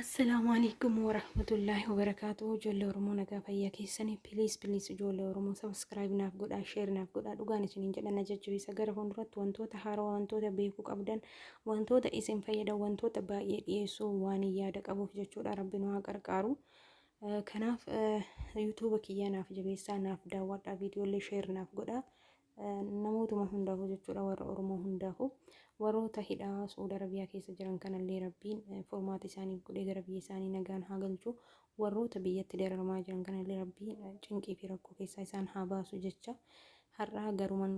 Assalaamu alaikum warahmatullaahi wabarakaatuhu ijoollee Oromoo nagaa fayyaa keessanii piliis piliis ijoollee Oromoo sabiskiraayib naaf godhaa sheer naaf godhaa dhugaan isiniin jedhan na jajjabeessa gara fuulduratti wantoota haaraa wantoota beekuu qabdan wantoota isin fayyadan wantoota baay'ee dhiyeessuu waan yaada qabuuf jechuudha rabbi nu haa gargaaru Kanaaf yuutuuba kiyya naaf jabeessaa naaf daawwadhaa viidiyoolee sheer naaf godhaa namootuma hundaafuu jechuudha warra Oromoo hundaafuu warroota hidhaa Suud Arabiyaa keessa jiran kanallee rabbiin furmaata isaaniif godhee gara biyya isaanii nagaan haa galchu warroota biyyatti dararamaa jiran kanallee rabbiin cinqii fi rakkoo keessaa isaan haa baasu jecha har'aa garuman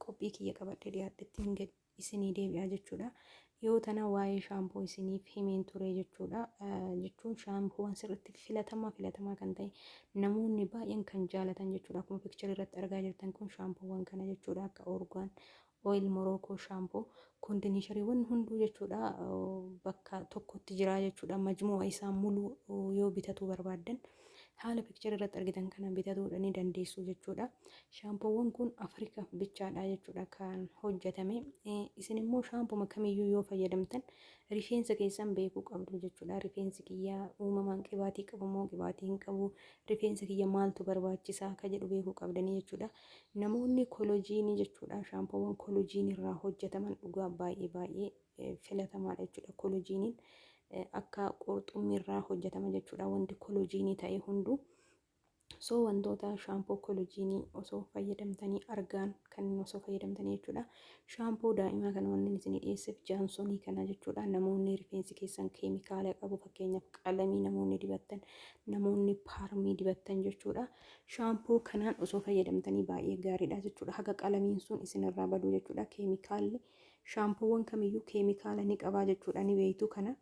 qophii kiyya qabadhee dhiyaadhettiin gadi. isinii deebi'a jechuudha. Dhiyoo tana waa'ee shaampoo isiniif himeen ture jechuudha. Jechuun shaampoowwan sirriitti filatamaa filatamaa kan ta'e namoonni baay'een kan jaalatan jechuudha. Akkuma piikcharii irratti argaa jirtan kun shaampoowwan kana jechuudha akka orgaan oil morookoo shaampoo kondineeshariiwwan hunduu jechuudha bakka tokkotti jira jechuudha. Majmu'a isaa muluu yoo bitatuu barbaaddan. Haala picture irratti argitan kana bitatuudha ni dandeessu jechuudha. Shaampoowwan kun Afrikaaf bichaadha jechuudha kan hojjetame. Isin immoo shaampuma kamiyyuu yoo fayyadamtan rifeensa keessan beekuu qabdu jechuudha. Rifeensi kiyya uumamaan qibaatii qabu moo qibaatii hin qabu? Rifeensa kiyya maaltu barbaachisa? Ka jedhu beekuu qabdanii jechuudha. Namoonni kolojiinii jechuudha. Shaampoowwan kolojiinii irraa hojjetaman dhugaa baay'ee baay'ee filatamaadha jechuudha. Kolojiiniin akka qurxummiirraa hojjetama jechuudha wanti kolojiinii ta'e hunduu. So wantoota shaampoo kolojiinii osoo fayyadamtanii argaan kan osoo fayyadamtanii jechuudha. Shaampoo daa'imaa kana wanni isin dhiyeesseef jaansonii kana jechuudha. Namoonni rifeensi keessan keemikaala qabu fakkeenyaaf qalamii namoonni dibattan namoonni paarmii dibattan jechuudha. Shaampoo kanaan osoo fayyadamtanii baay'ee gaariidha jechuudha. Haga qalamiin sun isinirraa baduu jechuudha. Keemikaalli Shaampoowwan kamiyyuu keemikaala ni qabaa jechuudha ni beektu kana.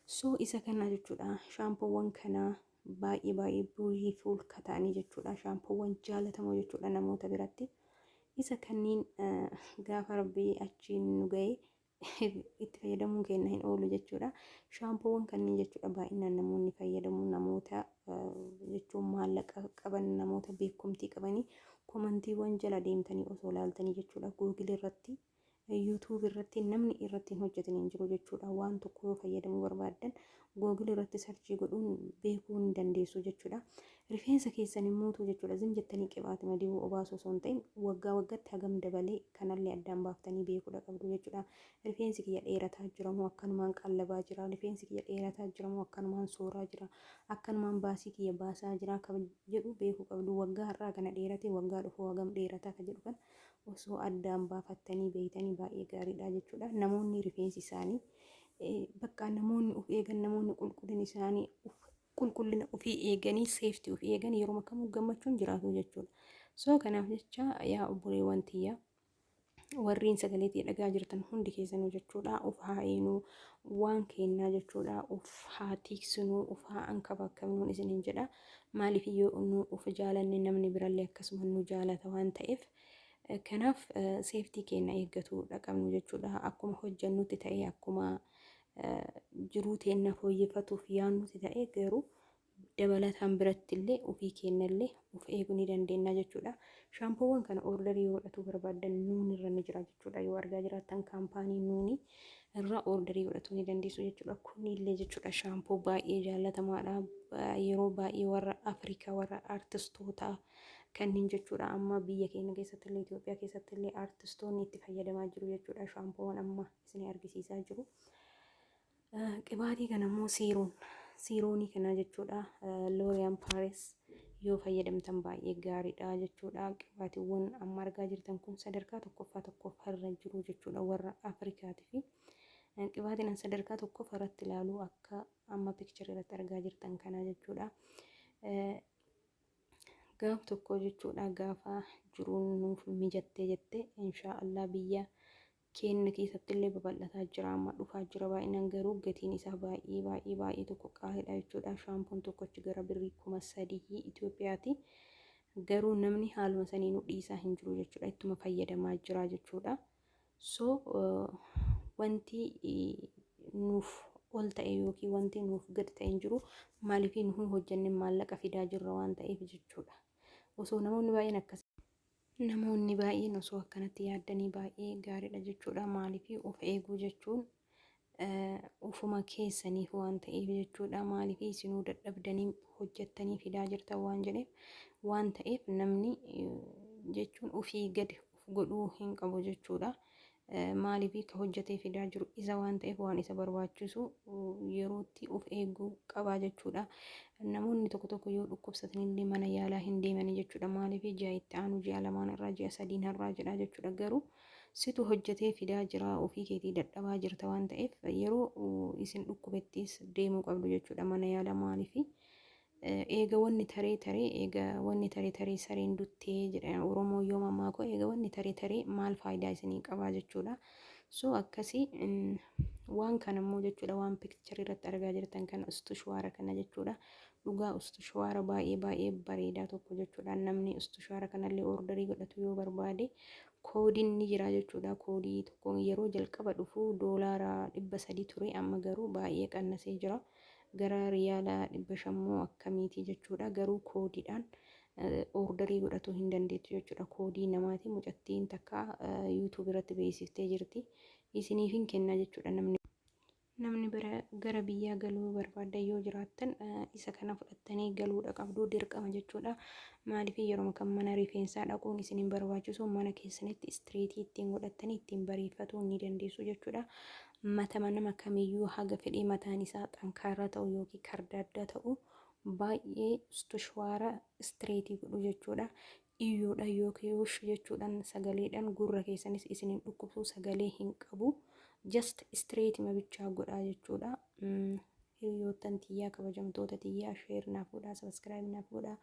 So isa kana jechuudha shaampoowwan kana baay'ee baay'ee buulii fi ulka ta'anii jechuudha shaampoowwan jaalatamoo jechuudha namoota biratti. Isa kanniin gaafa rabbii achiin nu ga'e itti fayyadamuun keenya hin oolu jechuudha. Shaampoowwan kanniin jechuudha baay'inaan namoonni fayyadamu namoota jechuun maallaqa qaban namoota beekumtii qabanii komantiiwwan jala deemtanii osoo laaltanii jechuudha googil irratti yuutuub irratti namni irratti hin hojjetan hin jiru jechuudha waan tokko yoo fayyadamuu barbaaddan googil irratti sarchii godhuun beekuu hin dandeessu jechuudha rifeensa keessan immuutu jechuudha zim jettanii qibaatima dibuu obaasuu osoo hin ta'in waggaa waggatti hagam dabalee kanallee addaan baaftanii beekuudha qabdu jechuudha Rifeensi kiyya dheerataa jira moo akkanumaan qallabaa jira? Rifeensi kiyya dheerataa jira moo akkanumaan sooraa jira? Akkanumaan baasii kiyya baasaa jiraa ka jedhu beekuu qabdu. Waggaa har'aa kana dheeratee waggaa dhufuu hagam dheerataa ka jedhu kana osoo addaan baafattanii beeytanii baay'ee gaariidha jechuudha. Namoonni rifeensi isaanii bakka namoonni of eegan namoonni qulqullina isaanii qulqullina ofii eeganii seeftii of eegan yeroo kamuu gammachuun jiraatu jechuudha. Soo kanaaf jecha yaa obboleewwan tiyyaa warriin sagalee tee dhagaa jirtan hundi keessanuu jechuudha of haa eenuu waan keennaa jechuudha of haa tiiksinuu of haa ankabaakamnuun isiniin jedha maaliif yoo nu of jaalanne namni birallee akkasuma nu jaalata waan ta'eef kanaaf seeftii keenna eeggatu dhaqabnu jechuudha akkuma hojjannutti ta'ee akkuma jiruu teenna fooyyeffatuuf yaannutti ta'ee garuu dabalataan birattillee ofii keennallee of eegu ni dandeennaa jechuudha. Shaampoowwan kana order yoo godhatuu barbaaddan nuun irra ni jira jechuudha. Yoo argaa jiraattan kaampaanii nuuni irra order godhatuu ni dandeessu jechuudha. Kunillee jechuudha shaampoo baay'ee jaallatamaadha. Yeroo baay'ee warra Afrikaa warra artistootaa kanneen jechuudha amma biyya keenya keessatti illee Itoophiyaa keessatti illee artistoonni itti fayyadamaa jiru jechuudha shaampoowwan amma isin argisiisaa jiru. Qibaatii kana immoo siiroon siiroonii kanaa jechuudha looriyaan paaris yoo fayyadamtan baay'ee gaariidha jechuudha qibaatiiwwan amma argaa jirtan kun sadarkaa tokkoffaa tokkoffaa irra jiru jechuudha warra afrikaati fi qibaatiin sadarkaa tokkoffaa irratti ilaalu akka amma piikcharii irratti argaa jirtan kanaa jechuudha gaaf tokko jechuudha gaafa jiruun nuuf mijattee jette inshaa allah biyya keenna keessattillee babal'ataa jira amma dhufaa jira baay'inaan garuu gatiin isaa baay'ee baay'ee baay'ee tokko qaaliidha jechuudha shaampoon tokko achi gara birrii kuma sadii Itoophiyaati garuu namni haaluma saniinuu dhiisaa hin jiru jechuudha ittuma fayyadamaa jira jechuudha so wanti nuuf ol ta'e yookiin wanti nuuf gad ta'e hin jiru maaliif nu hojjenne maallaqa fidaa jirra waan ta'eef jechuudha osoo namoonni baay'een akkas Namoonni baay'een osoo akkanatti yaaddanii baay'ee gaariidha jechuudha. Maaliif of eeguu jechuun ufuma keessaniif waan ta'eef jechuudha. Maaliif isinuu dadhabdanii hojjettanii fidaa jirtan waan jedheef waan ta'eef namni jechuun ofii gadi of godhuu hin qabu jechuudha. Maaliif ka hojjatee fidaa jiru isa waan ta'eef waan isa barbaachisu yerootti of eeguu qabaa jechuudha. Namoonni tokko tokko yoo dhukkubsatanillee mana yaalaa hin deemanii jechuudha. Maaliif ji'a itti aanu ji'a lamaan irraa ji'a sadiin har'aa jedhaa jechuudha. Garuu situ hojjatee fidaa jira ofii keetii dadhabaa jirta waan ta'eef yeroo isin dhukkubettis deemuu qabdu jechuudha mana yaalaa maaliif Eega wanni taree taree eega wanni taree taree sareen duttee jedha Oromoo yoo mammaakoo eega wanni taree taree maal faayidaa isinii qabaa jechuudha. So akkasii waan kana immoo jechuudha waan pikcharii irratti argaa jirtan kana ustu shuwaara kana jechuudha. Dhugaa ustu shuwaara baay'ee baay'ee bareedaa tokko jechuudha. Namni ustu shuwaara kanallee ordarii godhatu yoo barbaade koodiin ni jira jechuudha. Koodii tokko yeroo jalqaba dhufu doolaara dhibba sadii ture amma garuu baay'ee qannasee jira. Gara riyaala 500 moo akkamiiti jechuudha garuu koodiidhaan orderii godhatuu hin dandeettu jechuudha koodii namaati mucattiin takka youtube irratti beeksiftee jirti isiniif hin kenna jechuudha namni namni bira gara biyyaa galuu barbaaddan yoo jiraattan isa kana fudhattanii galuudha qabdu dirqama jechuudha maaliif yeroo kan mana rifeensaa dhaquun isin hin barbaachisu mana keessanitti istireetii ittiin godhattanii ittiin bareeffatuu ni dandeessu jechuudha Matama nama kamiyyuu haga fedhee mataan isaa xankaaraa ta'u ykn kardaaddaa ta'u baay'ee stushwaara, straight, godhu jechuudha. Iyyoodhaan ykn wush jechuudhaan sagaleedhaan gurra keessanis isin hin dhukkubsu sagalee hin qabu. Just straight ma bichaa godhaa jechuudha. Hiriyoottan tiyyaa kabajamtoota tiyyaa share naaf godhaa subscribe naaf godhaa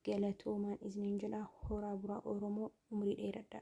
galatoomaan isiniin jedha horaa buraa Oromoo umrii dheeradha.